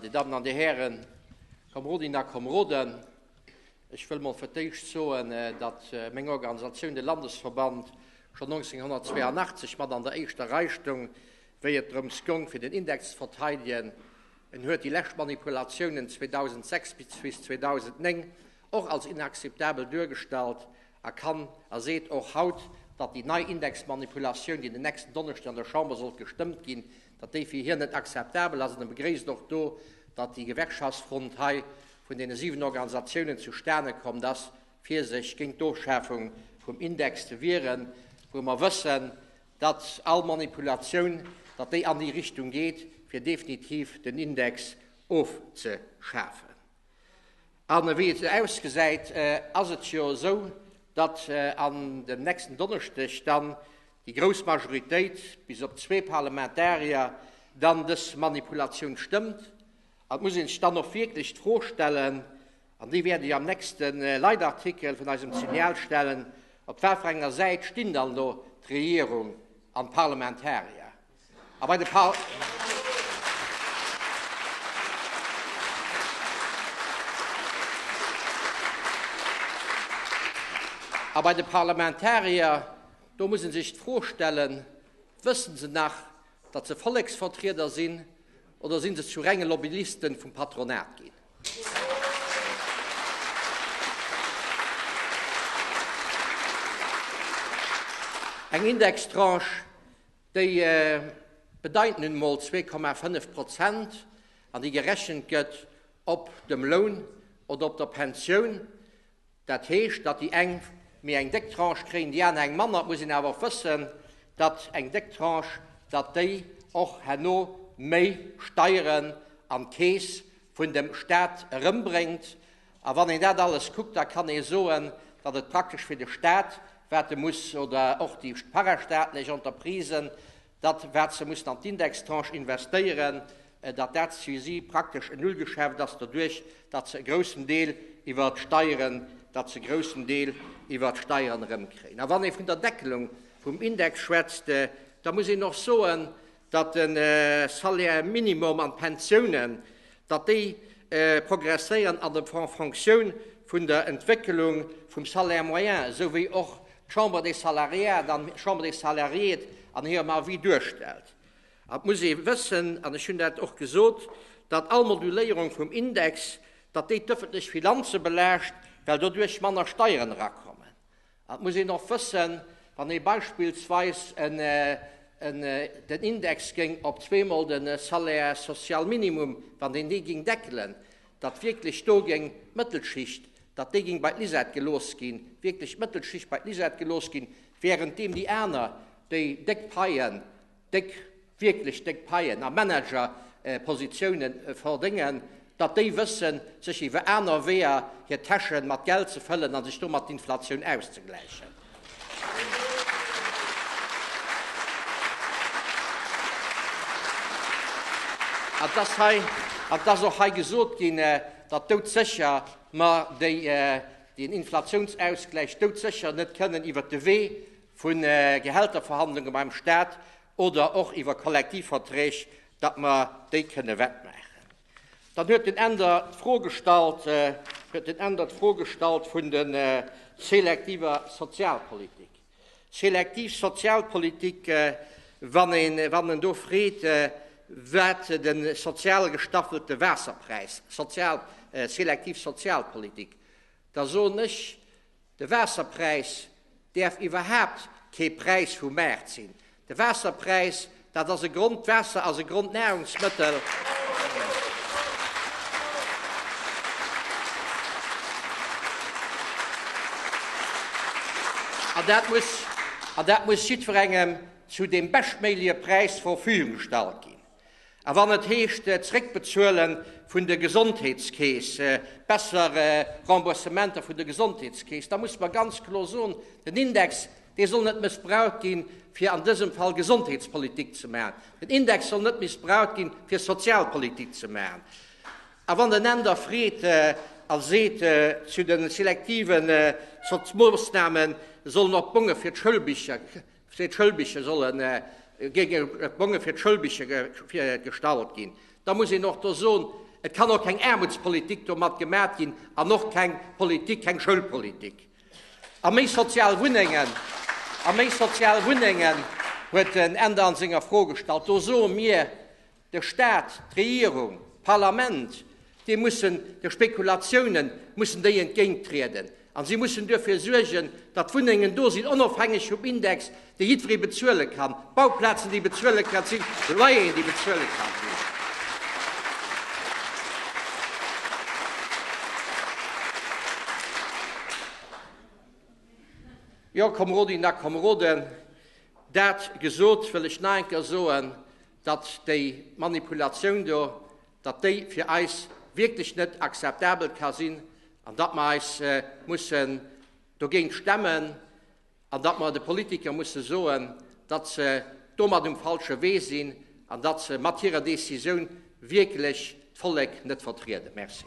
Dir Dammen an Dir Hären, Komrodinnen a Komroden, ech wëll emol fir d'éischt soen, datt meng Organisatioun, de Landesverband, schonn 1982 mat an der éischter Rei stoung, wéi et drëms goung, fir den Index ze verteidigen. En huet déi lescht Manipulatiounen 2006 bis 2009 och als inakzeptabel duergestallt a kann a seet och haut, datt déi nei Indexmanipulatioun, déi den nächsten Donneschden an der Chamber sollt gestëmmt ginn, Dat déi fir hien net akzeptabel ass an e begréisst och do, datt déi Gewerkschaftsfront hei vun deene 7 Organisatiounen zustane kommt ass, fir sech géint d'Ofschafung vum Index ze wieren, wou mer wëssen, datt all Manipulatioun, datt déi an déi Richtung geet, fir definitiv den Index ofzeschafen. An ewéi et ausgesäit, ass et jo esou, datt an dem nächsten Donneschdeg dann déi grouss Majoritéit, bis op zwee Parlamentarier, dann dës Manipulatioun stëmmt. An et muss ee sech dann och wierklech d'Fro stellen, an déi wäert ech am nächste Leitartikel vun eisem Signal stellen, Op wat fir enger Säit stinn dann elo d'Regierung an d'Parlamentarier? A bei de Par. A bei de Parlamentarier, do muss ee sech d'Fro stellen, Wëssen se nach, datt se Volleksvertrieder sinn oder sinn se zu renge Lobbyisten vum Patronat ginn? Eng Indextranche, Déi bedeiten nun emol zwee Komma fënnef Prozent, an déi gerechent gëtt op dem Loun oder op der Pensioun. Dat heescht, datt déi eng méi eng déck Tranche kréien, déi aner eng manner. Et muss een awer och wëssen, datt eng déck Tranche, datt déi och herno méi Steieren an d'Keess vun dem Stat erëmbréngt. A wann een dat alles kuckt, da kann ee soen, datt et praktesch fir de Stat, wat e muss, oder och déi parastaatlech Entreprisen, datt, wat se mussen an d'Indextranche investéieren, datt dat fir si praktesch en Nullgeschäft ass, doduerch datt se e groussen Deel iwwer d'Steieren, datt se e groussen Deel iwwer d'Steieren erëmkréien. A wann ee vun der Deckelung vum Index schwätzt, da muss een och soen, datt de Salaire minimum an d'Pensiounen, datt déi progresséieren an en Fonctioun vun der Entwécklung vum Salaire moyen, esou wéi och d'Chambre des salariat an d'Chambre des salariés an hirem Avis duerstellt. An et muss ee wëssen, an ech hunn dat och gesot, datt all Moduléierung vum Index, datt déi d'ëffentlech Finanze belaascht, well doduerch manner Steieren erakommen. Et muss een och wëssen, wann ee beispillsweis den Index géing op zweemol de Salaire social minimum, wann een dee géing deckelen, datt wierklech do géing d'Mëttelschicht, datt déi géing bei d'Lisette gelooss ginn, wierklech d'Mëttelschicht bei d'Lisette gelooss ginn, während deem déi aner, déi déck Paien, déck, wierklech déck Paien a Managerpositiounen verdéngen, datt déi wëssen, sech iwwer aner Weeër hir Täsche mat Geld ze fëllen a sech domat d'Inflatioun auszegläichen. Et ass hei, et ass och hei gesot ginn, datt doudsécher mer deen Inflatiounsausgläich doudsécher net kënnen iwwer de Wee vu Gehälterverhandlunge beim Stat oder och iwwer Kollektivverträg, datt mer déi kënne wettmaachen. Dann huet den Änder d'Fro gestallt, huet den Änder d'Fro gestallt vun der selektiver Sozialpolitik. Selektiv Sozialpolitik, wann een, wann en do freet, wat de sozial gestaffelte Waasserpräis, sozial, selektiv Sozialpolitik, da soen ech, De Waasserpräis däerf iwwerhaapt kee Präis vum Maart sinn. De Waasserpräis, dat ass e Grond, d'Waasser ass e Grondnahrungsmëttel. An dat muss, an dat muss jiddwerengem zu deem beschtméigleche Präis zur Verfügung gestallt ginn. A wann et heescht Zréckbezuele vun de Gesondheetskeess, besser Remboursementer vun de Gesondheetskeess, da musse mer ganz kloer soen, den Index, dee soll net mëssbraucht ginn, fir an dësem Fall Gesondheetspolitik ze maachen. Den Index soll net mëssbraucht ginn, fir Sozialpolitik ze maachen. A wann den Änder freet a seet, zu de selektive Moossnamen sollen och d'Bonge fir d'Schoulbicher Fir d'Schëllbiche sollen, géinge Bonge fir d'Schëllbiche gestallt ginn. Da muss een och do soen, et kann och keng Aarmutspolitik domat gemat ginn an och keng Politik, keng Schëllpolitik. A méi sozial Wunnengen, a méi sozial Wunnengen huet den Änder an senger Fro gestallt. Do soe mir, De Staat, d'Regierung, d'Parlament, déi mussen de Spekulatiounen mussen déi entgéint trieden a si mussen duerfir suergen, datt Wunnengen do sinn, onofhängeg vum Index, dee jiddweree bezuele kann, Bauplazen, déi bezuele ka sinn, Loyeren, déi bezuele ka sinn. Jo, Kameradinnen a Kameraden, dat gesot, wëll ech nach eng Kéier soen, datt déi Manipulatioun do, datt déi fir eis wierklech net akzeptabel ka sinn an datt mer eis mussen dogéint stemmen an datt mer de Politiker musse soen, datt se domat um falsche Wee sinn an datt se mat hirer Decisioun wierklech d'Vollek net vertrieden. Merci.